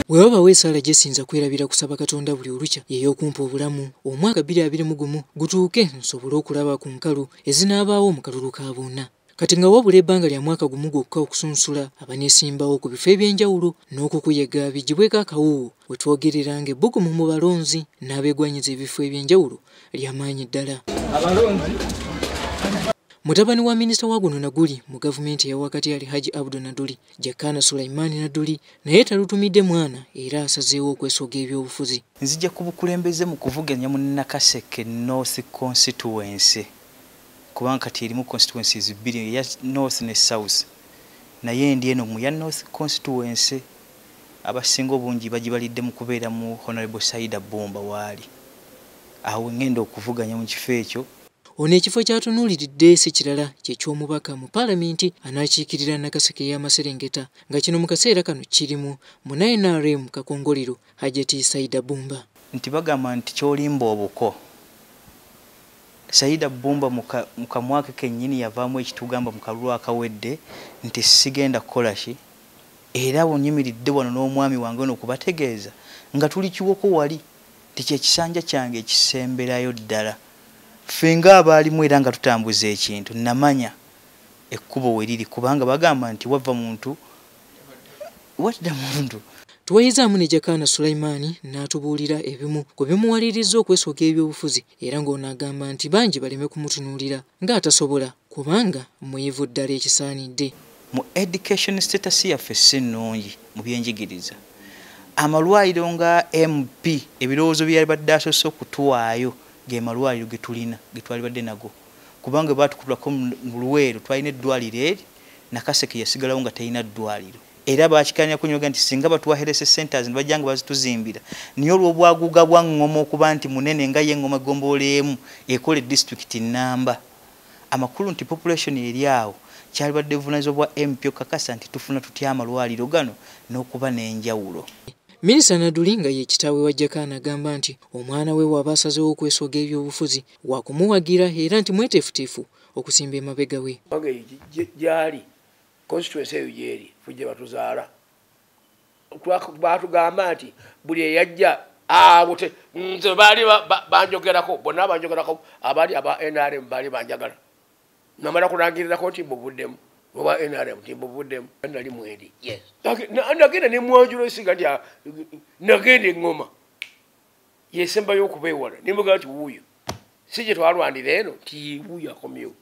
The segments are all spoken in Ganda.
Wewe bawe sala jesinza kwerabira kusaba katonda buli olucha yeyo kumpa obulamu omwaka bili abili mugumu gutuuke nsobule okulaba ku nkalu ezinabaawo mu kalulu ka bonna kati nga wabula ebbanga lya mwaka gumu gwokka okusunsula abanesimbawo ku bifo eby'enjawulo n'okukuyega bigibweko akawuwo wetwogerera nga ebbugumu mu balonzi n'abegwanyiza ebifo eby'enjawulo lyamaanyi ddala abalonzi mutabani wa minisita wa guno na guli mu gavumenti eyawakati ali haji abdu naduli Jakana Sulaiman Naduli naye talutumidde mwana era asazeewo okwesoga ebyobufuzi. Nzija ku bukulembeze mu kuvuganya mu Nakaseke North Constituency kubanga kati erimu constituencies bbiri eya North ne South naye ndi eno mu ya North Constituency abasinga obungi bagibalidde mu kubeera mu Honourable Saida Bbumba waali awo ngenda okuvuganya mu kifo ekyo. Ono ekifo kyatunuuliridde si kirala kye ky'omubaka mu paalamenti anaakiikirira Nakaseke y'amaserengeta nga kino mu kaseera kano kirimu muna nrm kakongoliro Hajati Saida Bumba. Nti bagamba nti ky'olimba obuko. Saida Bumba mu kamwake kennyini yavaamu ekitugamba mu kalulu akawedde nti sigenda kukola ki era bwe nnyimiridde wano n'omwami wange ono okubategeeza nga tuli kiwoko wali. nti kyekisanja kyange ekisemberayo ddala ffe nga abaalimu era nga tutambuza ekintu namanya ekkubo weriri kubanga bagamba nti wava muntu wadda muntu Twayizaamu ne Jakaana Sulaiman n'atubuulira ebimu ku bimuwalirizza okwesoga ebyobufuzi era ng'ono agamba nti bangi baleme kumutunuulira ng'atasobola kubanga muyivu ddala ekisaanidde mu education status yaffe si nnungi mu byenjigiriza amalwaliro nga mp ebirowoozo byeyabadde asoose okutuwaayo ge malwaliro ge tulina ge twalibadde nago kubanga bwe baatukulako mu luweero twalina eddwaliro eri nakaseke yasigalawo nga talina ddwaliro era bakikanya kunyoga nti singa batuwaherese centers ne bajja nga bazituzimbira naye olw'obwaguga bwa ŋŋoma okuba nti munene nga ye ŋŋoma eggombolola emu ekole disitulikiti nnamba amakulu nti population eri awo kyalibadde buvunaanyizibwa bwa mp okukakasa nti tufuna tutya amalwaliro gano n'okuba n'enjawulo Minisita Naduli nga ye kitaawe wa Jakaana agamba nti omwana we waba asazewo okwesoga ebyobufuzi wakumuwagira era nti mweteefuteefu okusimba emabega we. Gyali constituency eyo gyeri fujja batuzaala batugamba nti buli eyajja awo te nze baali banjogerako bonna abanjogerako abaali aba nrm baali banjagala namala kulangirirako nti mbuvuddemu oba nrm nti mbuvuddemu nali mwendi nagenda nemwanjula esiga nti ah, nagenda eŋoma yesembayo okubeewala ne mugamba nti wuuyo si gye twalwanira eno nti wuuyo akomyewo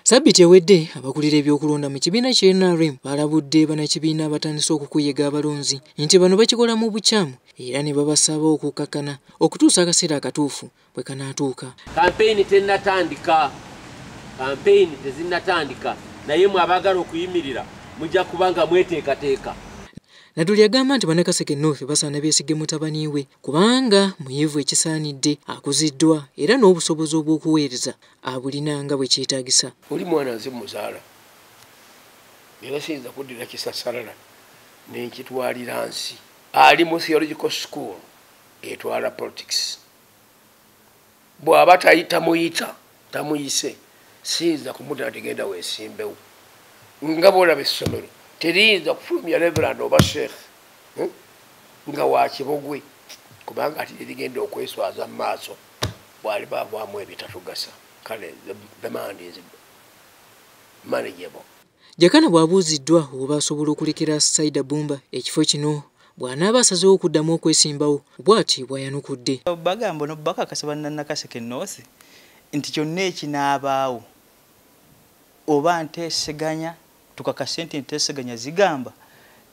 sabbiti ewedde abakulira ebyokulonda mu kibiina kya nrm balabudde banakibiina abatandise okukuyega abalonzi nti bano bakikola mu bukyamu era ne babasaba okukkakkana okutuusa akaseera akatuufu bwe kanaatuuka kampeyini tennatandika kampeyini tezinnatandika naye mwe abaagala okuyimirira mujja kuba nga mweteekateeka natuli agamba nti banakaseke north basaana beesige mutabani we kubanga muyivu ekisaanidde akuziddwa era n'obusobozi obw'okuweereza abulina nga bwe kyetaagisa oli mwana nze muzaala era siyinza kuddira kisasalala nenkitwalira nsi ali mu theological school etwala politics bwaba tayitamuyita tamuyise siyinza kumudala tegenda wesimbewo nga bolaba essomero teriyinza kufulumya reverand oba sheikh hmm? nga wakibogwe kubanga ati terigenda okweswaza mu maaso bwali bavaamu ebitatugasa kale the mand is manageable Jakana bw'abuuziddwa oba asobola okulekera Saida Bumba ekifo kino bw'anaaba asazeewo okuddamu okwesimbawo bw'ati bw'ayanukudde. Bagamba ono bakakasa bannanakaseke North nti kyonna ekinaabaawo oba nteeseganya tukakase nti enteeseganya zigamba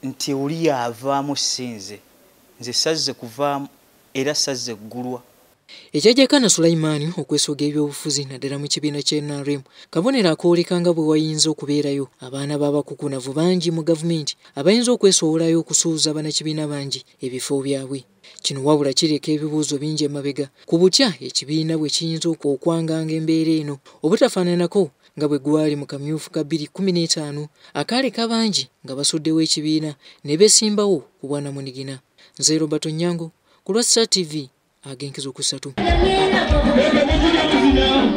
nti oli y'avaamu si nze. Nze sazze kuvaamu era sazze ggulwa. Ekyajjakana Sulaiman okwesooga ebyobufuzi naddala mu kibiina kya NRM kabonero akooleka nga bwe wayinza okubeerayo abaana b'abakukunavu bangi mu gavumenti abayinza okwesowolayo okusuuza banakibiina bangi ebifo byabwe. Kino wabula kireka ebibuuzo bingi emabega ku butya ekibiina bwe kiyinza okwanganga embeera eno obutafaananako nga bwe gwali mu kamyufu ka 2015 akaaleka bangi nga basuddewo ekibiina ne besimbawo ku bwanamunigina. Nze Robert Onyango. ku lwa Star TV agenkezi okusatu.